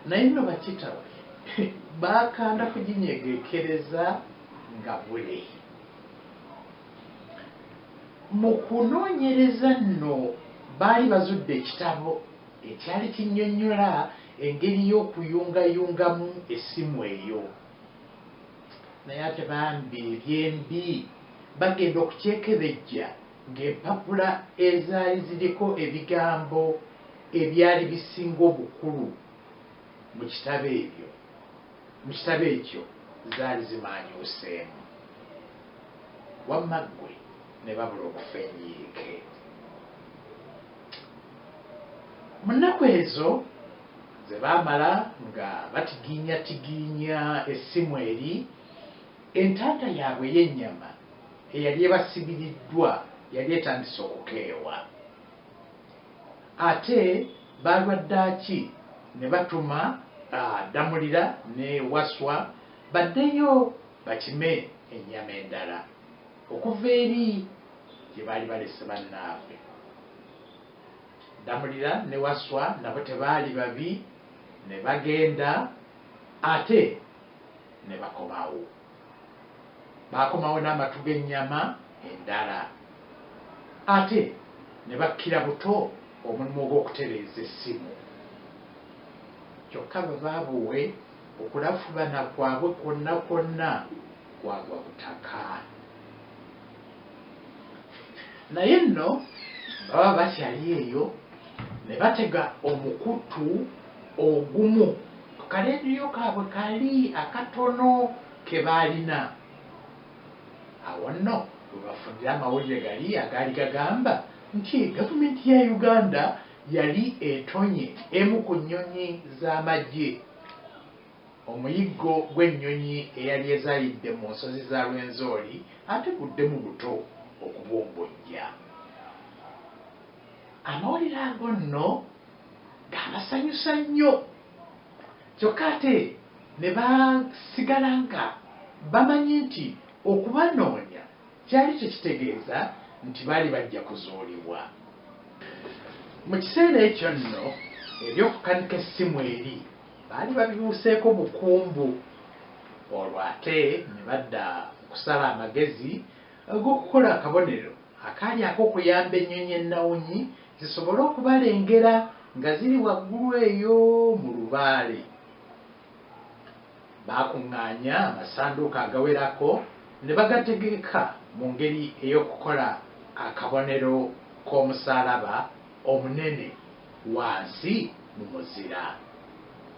naye nno bakitawe bakanda kuginyegekereza nga bule mu kunoonyereza nno baali bazudde ekitabo ekyali kinyonyola engeri y'okuyungayungamu essimu eyo naye ate bambi ebyembi bagenda okukyekebejja ng'empapula ezaali ziriko ebigambo ebyali bisinga obukulu mu kitabo ebyo mu kitabo ekyo zaali zimaanyuuseemu wamma ggwe ne babula okufa enyiike mu nnaku ezo Ze baamala nga batigiinyatigiinya essimu eri, entanda yaabwe ey'ennyama eyali ebasibiriddwa yali etandise okukeewa. Ate ba lwaddaaki ne batuma Ddamulira ne Wasswa baddeyo bakime ennyama endala okuva eri gye baali balese bannaabwe. Ddamulira ne Wasswa nabo tebaali babi ne bagenda ate ne bakomawo. Baakomawo n'amatu g'ennyama endala ate ne bakkira buto omulimu ogw'okutereeza essimu. Kyokka babaabuwe okulafubana kwabwe kwonna kwonna kwagwa butaka. naye nno baba bakyali eyo ne batega omukutu ogumu ku kaleediyo kaabwe kali akatono ke baalina. Awo nno we bafunira amawulire gali agaali gagamba nti Gavumenti ya Uganda yali etonye emu ku nnyonyi z'amagye. Omuyiggo gw'ennyonyi eyali ezaalidde mu nsozi za Rwenzori ate guddemu buto okubumbujja. Amawulire ago nno gaabasanyusa nnyo kyokka ate ne basigala nga bamanyi nti okubanoonya kyali tekitegeeza nti baali bajja kuzuulibwa. Mu kiseera ekyo nno eby'okukanika essimu eri Baali babibuuseeko bukumbu olwo ate ne badda mu kusala amagezi ag'okukola akabonero akaali ak'okuyamba ennyonyi ennawunyi zisobole okubalengera nga ziri waggulu eyo mu lubaale. Baakuŋŋaanya amasanduuko agawerako ne bagategeka mu ngeri ey'okukola akabonero k'omusaalaba. omunene wansi mu muzira.